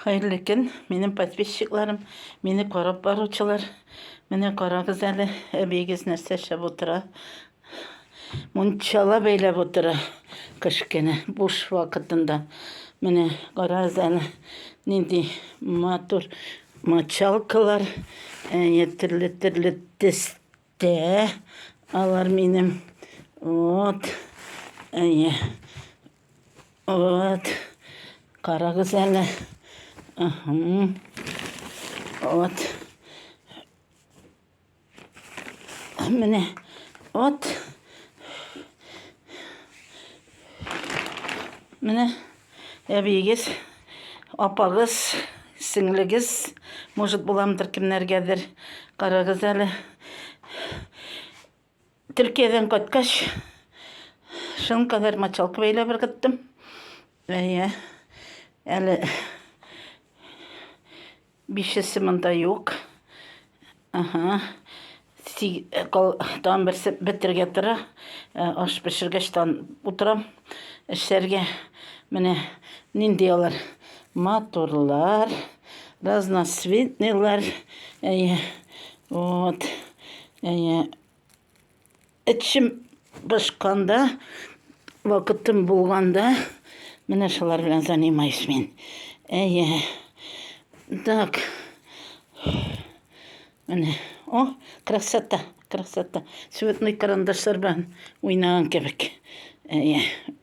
Хәерле көн, минем подписчикларым, мине карап баручылар. Менә карагыз әле, әбиегез нәрсә эшләп утыра. Мунчала бәйләп утыра кешкене буш вакытында. Менә карагыз әле, нинди матур мочалкалар, әйе, төрле-төрле төстә. Алар минем, вот, әйе, Вот. Карагыз әле. Вот. Менә. Вот. Менә әбиегез, апагыз, сеңлегез, может, буламдыр кемнәргәдер. Карагыз әле. Төркиядән кайткач, шуның кадәр мочалка бәйләп ыргыттым. Әйе. Әле бишесе монда юк. Ага. Тан берсе бетерге тора. Э, аш пешергәч тан утырам. Эшләргә менә нинди алар матурлар, разноцветныйлар. Әйе. Вот. Әйе. Эчем пошканда, вакытым булганда, менә шулар белән занимаюсь мин. Әйе. Так. Менә. О, красота, красота. Цветной карандашлар белән уйнаган кебек. Әйе.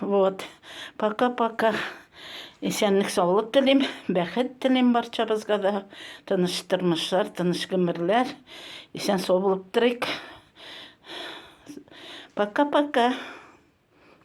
Вот. Пока-пока. Исәнлек саулык телим, бәхет телим барчабызга да. Тыныч тормышлар, тыныч гомерләр. Исән сау булып торыйк. Пока-пока.